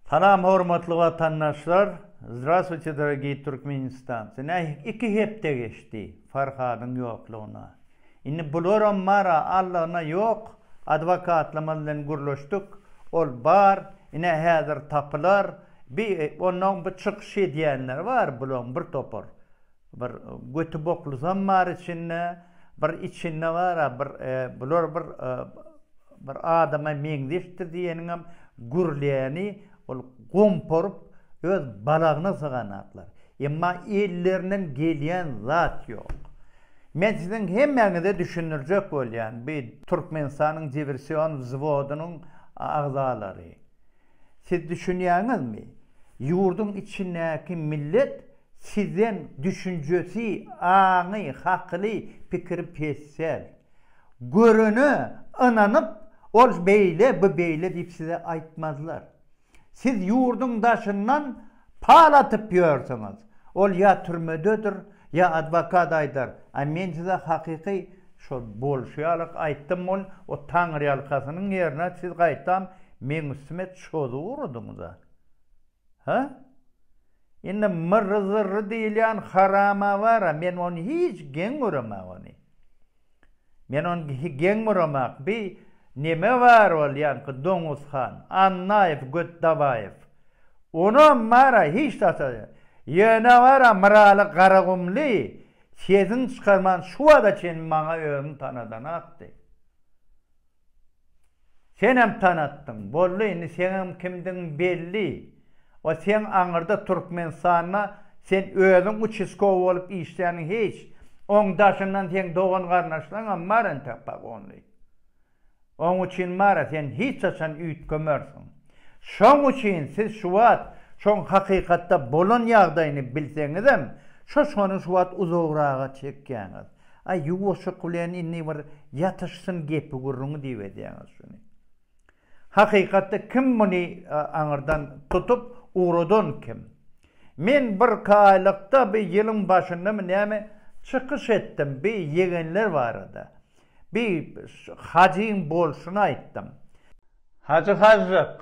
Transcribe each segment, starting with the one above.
Salam hormatly watandaşlar! Zdrastwuyte dorogiý Türkmenistancy! Nähik iki hepde geçdi Farhadyň ýoklugyna. Indi bularam bar a Allagyna ýok, adwokatlamyz bilen gürleşdik, ol bar, ine häzir tapylar, bi onnoň bu çykyş edýänleri bar bulaň bir topar. Bir göti boklysam bar içinde, bir içinde bar-a bir bular bir bir adama meňzeşdir diýeniňem gürleni ol gomporup öz balagyna syganaklar. Emma ellerinden gelýän zat ýok. Men siziň hemmäňize düşündirjek bolýan bi Türkmenistanyň diwersion wzwodynyň agzalary. Siz düşünýäňizmi? Ýurduň içindäki millet sizden düşünjesi, aňy, hakyly, pikiri pes däl. Görene ynanyp, ol beýle, bu beýle diýip size aýtmazlar. Siz ýurduň daşyndan Pal atyp ýörsüňiz. Ol ýa türmededir, ýa adwokat aýdar, a men size hakyky şol bolşy ýaly aýtdym ol o taňryýalkasynyň ýerine siz gaýtam meň üstüme çozup urudyňyz a. Hä? Indi Myrry-zyrry diýilýän harama bar a men ony hiç geň göremäg ony. Men on geň buramak bi neme bar bolýanky doňuzhan annaýew göt dabaýew onam bara hiç zata ýöne bara myraly garagumly sesini çykarman şu wada çenli maňa özüni tanadanakdy. Senem tanatdyň, boldy indi seňem kimdigiň belli. O seň aňyrda Türkmenistanda sen özüň uçiskowy bolup işländiň hiç. Oň daşyndan seň dogan garnaşlaňam bar entek pagonly. Oň uçin mara sen hiç haçan üýtgemersiň. Şoň uçin siz şu wagt şoň hakykatda bolan ýagdaýyny bilseňizem şoşgany şu wagt uzagraga çekýäňiz. Aý, ýuwaşjyk bilen indi bir ýatyşsyn gepi-gürrüňi diýip edýäňiz şuny. Hakykatda kim muny aňyrdan tutup ugradan kim? Men birki aýlykda, bi ýylyň başyndamy näme, çykyş etdim bi ýegenler barada. Bi Hajyň bolşuny aýtdym. Hajy Hajyk,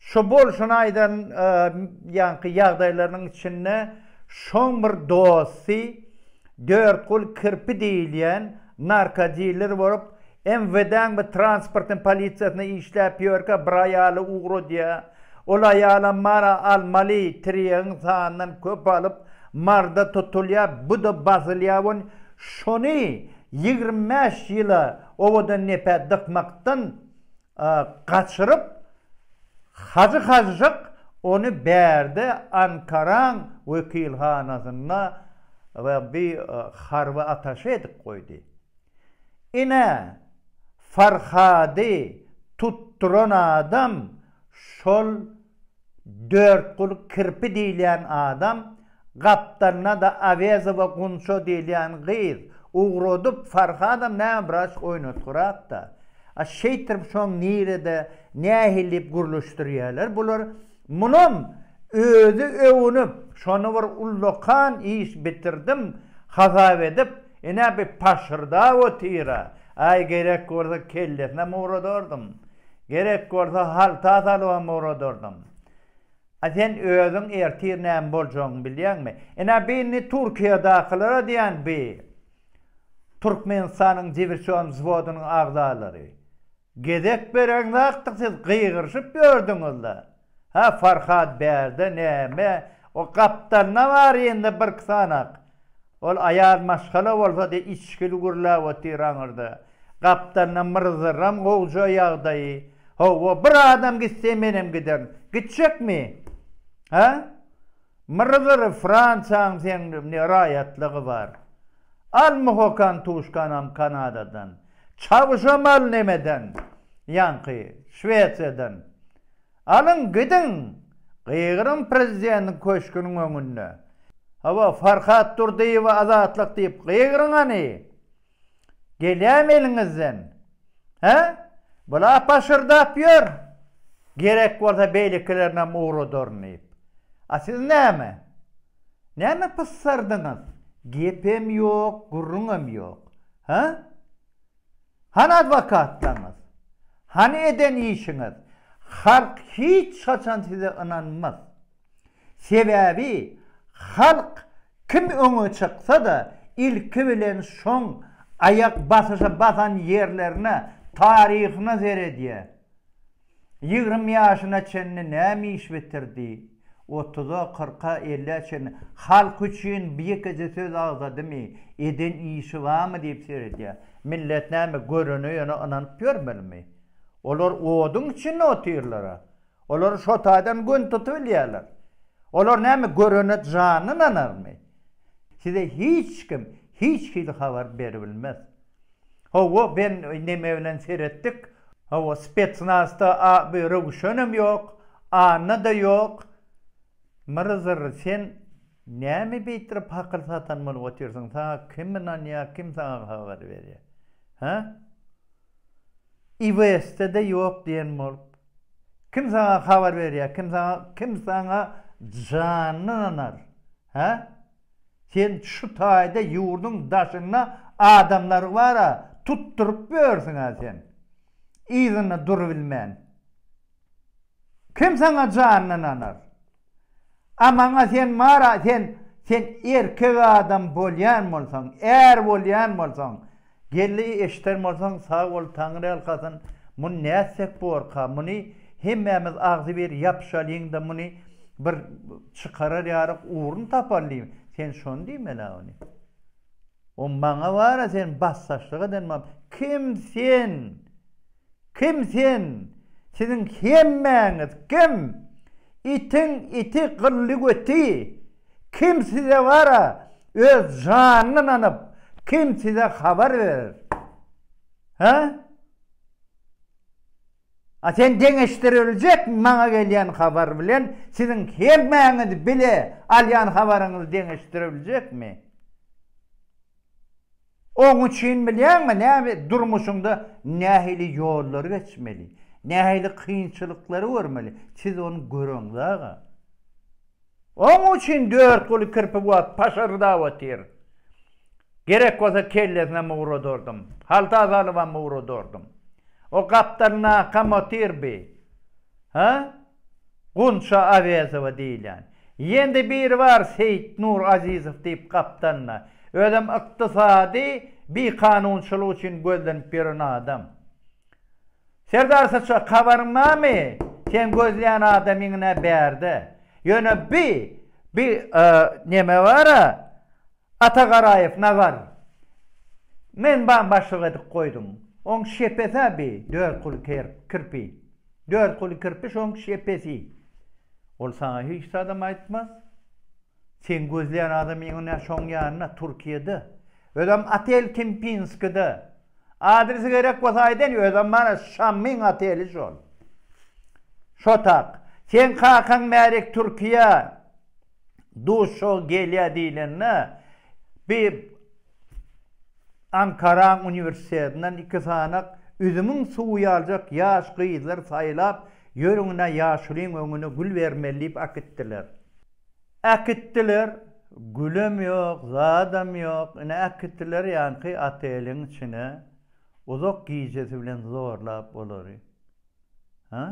Şu bolşuny aýdan ýaňky ýagdaýlarynyň içinde şoň bir dosty Dörtgul kirpi diýilýän narkodiler bolup, MWD-niň bir transportyň polisiýasynda işläp ýörkä bir aýaly ugradýar. Ol aýalam mara almaly tirýegiň sanyndan köp alyp, marda tutulýar, bu-da basylýar we şony ýigrimi bäş ýyla owadan nepä dykmakdan gaçyryp, Hajy Hažžyk ony bärde Ankaraň wekilhanasynda bir harby ataşe edip goýdy. Ine, Farhady tutduran adam şol. Dörtgul kirpi diýilýän adam gapdalynada Awezowa Gunça diýilýän gyz ugradyp Farhadam näme bir aşk oýnatgyrakda. A şeýtirip şoň nirede nähili diýip gürleşdirýäler bular. Munam özi öwünip şony bir ullakan iş bitirdim hasap edip ine bir paşyrdap otyra. Aý gerek bolsa kellesinem ugradardym. Gerek bolsa halta salybam ugradardym. A sen özüň ertir näme boljagyny bilýäňmi? Ine bu indi Türkiýedakylara diýen bu Türkmenistanyň diwersion wzwodynyň agzalary. Gezek bereňzakdyk siz gygyryşyp ýördüňiz-le. Hä Farhad bärde näme o gapdalynda bar indi birki sanak ol aýal maşgala bolsa diýip içgili gürläp otyr aňyrda gapdalynda myrzyram gowja ýagdaýy hawa bir adam gitse menem giderin gitjekmi hä myrzyr fransiýaň seň ne raýatlygy bar al muhokan tuşkanam kanadadan çawuşam al nemeden ýaňky şwesiýadan Alyň, gidiň! Gygyryň prezidentiň köşgüniň öňünde. Hawa, Farhat Durdyýewe azatlyk diýip gygyryň hany! Gelýäm eliňizden! Hä? Bu-la paşyrdap ýör! Gerek bolsa beýlekilerinäm ugradaryn diýip. A siz näme? Näme pyssardyňyz? Gepem ýok, gürrüňem ýok. Hä? Hany adwokatlaryňyz? Hany eden işiňiz? Halk hiç haçan size ynanmaz. Sebäbi halk kim öňe çyksa-da ilki bilen şoň aýak basyşa basan ýerlerine, taryhyna seredýär. Ýigrimi ýaşyna çenli näme iş bitirdi? Otuza, kyrka, ellä çenli halk üçin bir ýekeje söz agzadymy, eden işi barmy diýip seredýär. Millet näme, görene ýöne ynanyp ýörmelimi? Olar oduň içinde otyrlar-a. Olar şo taýdan gün tutubilýärler. Olar näme, görene jany ynanarmy? Size hiç kim hiç hili habar beribilmez. Hawa ben neme bilen seretdik hawa spetsnazda a bu röwüşenem ýok anna da ýok mrzr sen name bitrip hakyl satan bolup otyrsyň saňa kim ynanýa kim saňa habar berýa ha ibsde de ýok diýen bolup kim saňa habar berýa kim saňa kim saňa janyny ynanar ha. Sen şu taýda ýurduň daşynda adamlary bar-a, tutduryp ýörsiň-ä sen, yzynda durubilmän. Kim saňa janyny ynanar? A maňa sen bar-a, sen, sen erkek adam bolýan bolsaň, är bolýan bolsaň, Geldi eşder bolsaň sag bol taňryýalkasyn muny nätsek borka muny hemmämiz agzybir ýapyşalyňda muny bir çykarar ýaryk ugrun tapaly sen şony diýmelä ony o maňa bara sen basdaşlyk eden bam kim sen Kim sen? Siziň hemmäňiz kim? Itiň iti gylly göti! Kim size bara öz janyny nanyp, kim size habar berer? Hä? A sen deňeşdiriljekmi maňa gelýän habar bilen siziň hemmäňiz bile alýan habaryňyz deňeşdiriljekmi? Oň üçin bilýäňmi näme, durmuşyňda nähili ýollary geçmeli, nähili kynçylyklary görmeli, siz ony göreňiz aga. Oň üçin dört guly kirpi wagt paşyrdap otyr. Gerek bolsa kellesinem ugradardym, halta salybam ugradardym. O gapdalynakam otyr bi. Hä? Gunça Awezowa diýilýän. Ýende biri bar Seýitnur Azizow diýip gapdalynda. Özem ykdysady bikanunçylyk üçin gözlenip ýören adam. Serdar Saçak habaryň barmy? Sen gözleýän adamyň-ä bärde. Ýöne bi, bi neme bar-a, Ata Garaýew nagar. Men baň başlyk edip goýdum. Oň şepes-ä bi dört kuly kirpi. Dört kuly kirpi şoň şepesi. Ol saňa hiç zadam aýtmaz. Seň gözleýän adamyň ine şoň ýanynda Türkiýede. Özem otel Kempinskide. Adresi gerek bolsa aýdaýyn özem mana Şamyň oteli şol. Şo tak. Seň kakaň Märik Türkiýe. duşuşyga gelýär diýlende, bir Ankaraň uniwersitetinden iki sanak üzümiň suwy ýaljak ýaş gyzlar saýlap, Ýörüň-ä ýaşulyň öňüne gül bermeli diýip äkitdiler. Äkitdiler, gülem ýok, zadam ýok, ine äkitdiler ýaňky oteliň içine, uzak gijesi bilen zorlap olary. Hä?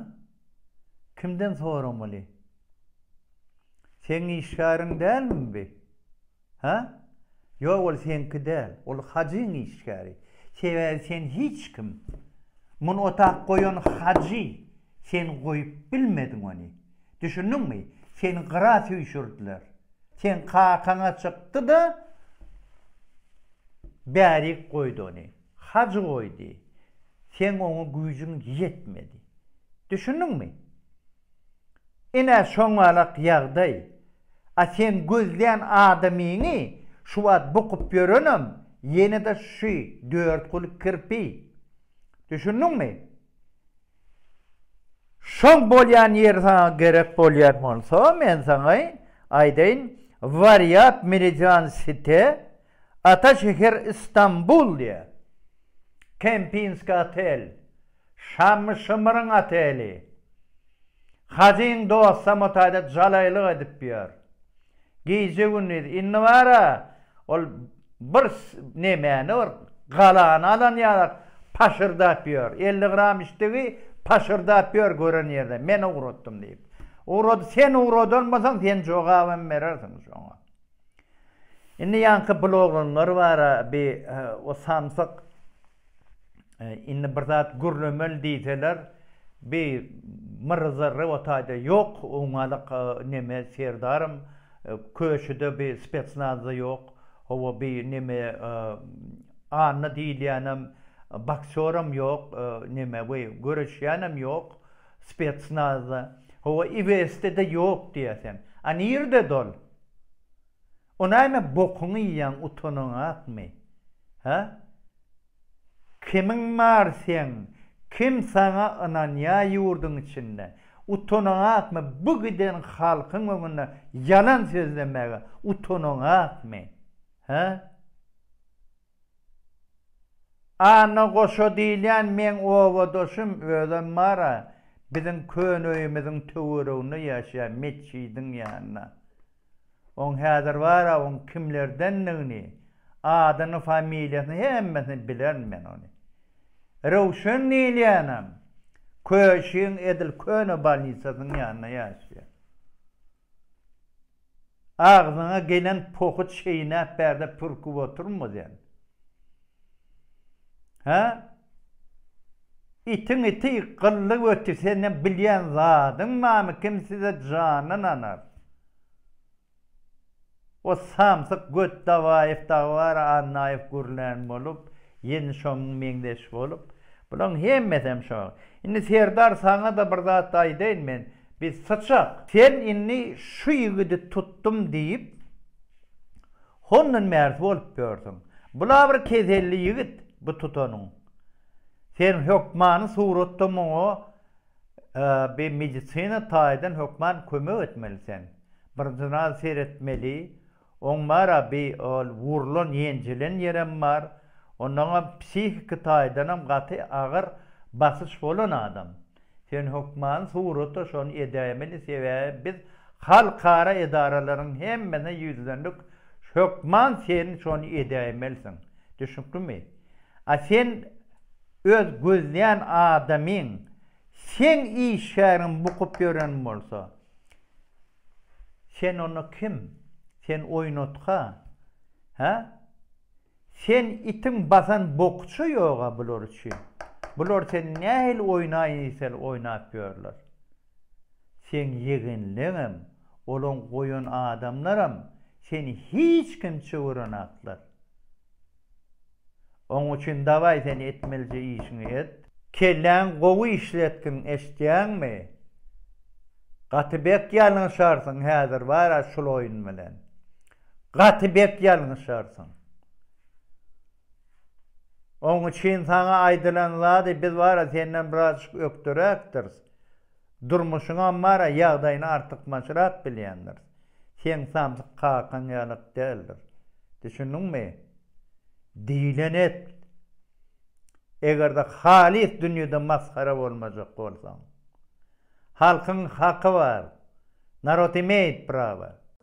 Kimden soramaly? Seň işgäriň dälmi bi? Hä? Ýok, ol seňki däl. Ol Hajyň işgäri. Sebäbi sen hiç kim. Muny otag goýan Hajy. Sen goýup bilmediň ony. Düşündiňmi? Seni gyra süýşürdiler. Seň kakaň-a çykdy-da, bärik goýdy ony. Hajy goýdy. Seň oňa güýjüň ýetmedi. Düşündiňmi? Ine şoňalak ýagdaý. A sen gözlän adamyňy şu wagt bukup ýörenem ýene-de şu dört guly kirpi. Düşündiňmi? Şoň bolýan ýeri saňa gerek bolýan bolsa, men saňa aýdaýyn, Warýap Meridian Site, Ata şäher Istanbul diýýär. Kempinski otel. Şammy-şymyryň oteli. Hajyň dostam otaýda jalaýlyk edip ýör. Gije-gündiz. Indi bar-a, ol bir nemäni, bir galany alan ýalak paşyrdap ýör. Elli gram içdigi paşyrdap ýör gören ýerde, men ugratdym diýip. Ugrady, sen ugradanbasaň, sen jogabam berersiň şoňa. Indi ýaňky bloglanlar bara bi o samsyk indi bir zat gürlemeli diýseler bi myry zyry o taýda ýok oňňalyk neme serdarym köşüde bi spetsnazda ýok hawa bi neme anna diýilýänem boksýoram ýok neme we göreşýänem ýok spetsnazda hawa ibs de ýok diýersen a nirede ol. O näme bokuňy iýýäň utanaňakmy hä? Kimiň bar seň kim saňa ynanýa ýurdyň içinde utanaňakmy bu giden halkyň öňünde ýalan sözlemäge utanaňakmy hä? Anna goşa diýilýän meň obadaşym, özem bar-a, biziň köne öýümiziň töwereginde ýaşaýar, metjidiň ýanynda. Oň häzir bar-a, oň kimlerdendigini, adyny, familiýasyny, hemmesini bilerin men ony. Röwşen diýilýänem, Köşiň edil köne bolnisasynyň ýanynda ýaşaýar. Agzyňa gelen pohy çeýnäp bärde pürküp oturma sen. Hä? Itiň iti gylly göti seniň bilýän zadyň barmy kim size janyn anar. O samsyk göt Dabaýew dagy bar, Annaýew gürlän bolup, Ýeni şoňňy meňzeş bolup. Bulaň hemmesem şo. Indi Serdar saňa-da bir zat aýdaýyn men, biz syçak. Sen indi şu ýigidi tutdum diýip, hondan bärsi bolup ýörsüň. Bula bir keselli ýigit, bu tutanyň. Sen hökmany suratda muňa Bi medisina taýdan hökman kömek etmeli sen. Birdynal seretmeli. Oň bar-a bi ol wurlan ýenjilen ýerem bar. Onnoňam psihiki taýdanam gaty agyr basyş bolan adam. Sen hökman surata şony edäýmeli sebäbi biz halkara edaralaryň hemmesine ýüzlendik hökman sen şony edäýmelisiň. Düşnüklimi? A sen Öz gözleýän adamyň seň işgäriňi bukup ýören bolsa, sen onda kim? Sen oýnatga, hä? Sen itiň basan bokuça ýog-a bular üçin. Bular seni nähili oýnaýyn diýseler oýnap ýörler. Seň ýegenleňem, olaň goýan adamlaram seni hiç kim çöwürenaklar. Oň üçin dawaý sen etmelije işiňi et. Kelläň gowy işletgin eştýäňmi? Gaty bek ýalňyşarsyň häzir bara şul oýun bilen. Gaty bek ýalňyşarsyň. Oň üçin saňa aýdylan zady biz bara senden birazjyk ökderäkdiris. Durmuşyňam bar-a, ýagdaýyny artykmaçrak bilýändiris. Seň samsyk kakaň ýalyk däldir. Düşündiňmi? Diýleni et! Eger-de halys dünýede masgara bolmajak bolsaň. Halkyň haky bar. Narod imeýt prawa.